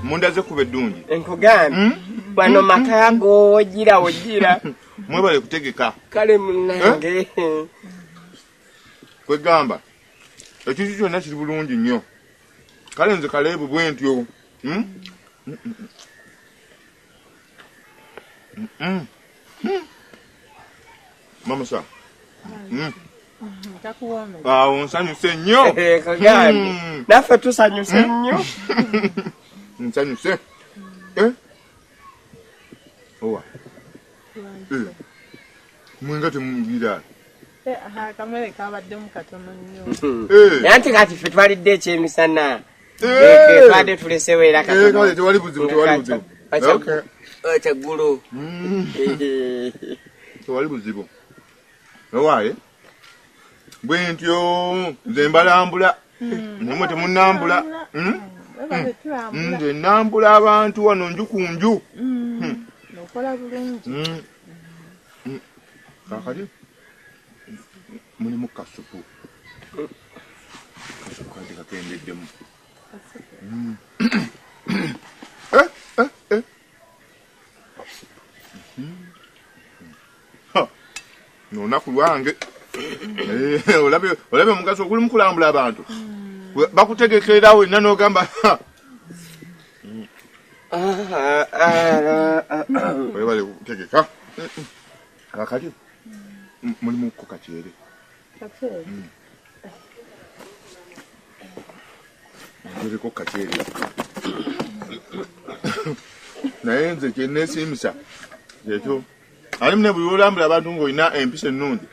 munda zekuba eddungi enkugambye hmm? bano maka gogira ogira mwebale kutegeka kale munange eh? kwegamba ekintu kyonna kiri bulungi nnyo kale nze kaleebu bwe ntyo hmm? hmm. hmm. mamusa awo nsanyuse nnyo eh, naffe tusanyuse nnyo nsanyuse eh? owa eh. mwenga temubiraa nanti kati fe twalidde ekyemisana twade tulesewo era kyaggulu tewali buzibu owaaye bwe ntyo nze mbalambula hmm. namwe temunambula hmm? Hmm. nze nambula abantu wano nju ku nju kakali mulimu kasupu kasupu kati kakendeddemu hmm. olunaku lwange eh, olabye omugaso oguli mukulambula abantu hmm. bakutegekerawo enna nogamba webale kutegeka kakati mulimu ko kakyere muliko kakyere naye nze kyenesimisa ekyo alimu ne buli olambula abantu ngaolina empisa ennungi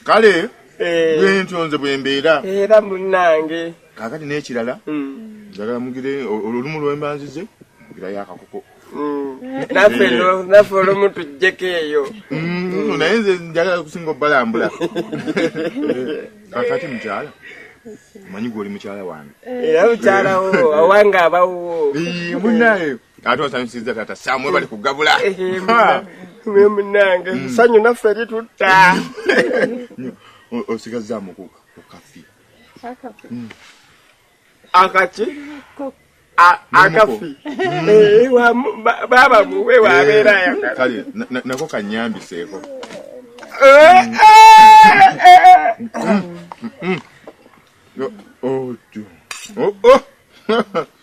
kale eh. bwentyo nze bwembeera era munange kakati n'ekirala hmm. njagala mugire olumu lwembanzize mugirayo akakoko naffe naffe olumu tujjeko eyo mm, naye nze njagala kusinga obalambula kakati mukyala omanyi gwe oli mukyala wange era mukyalawo awange abawo munaye ate osanyusiza tata sam webali kugabula mwe munange mm. sanyu naffe eri tutta osigazaamu ku kafi mm. akaki akafi mm. eh, baba muwe wabeera eh, ayagala kale nako kanyambiseeko eh, oh, oh, oh.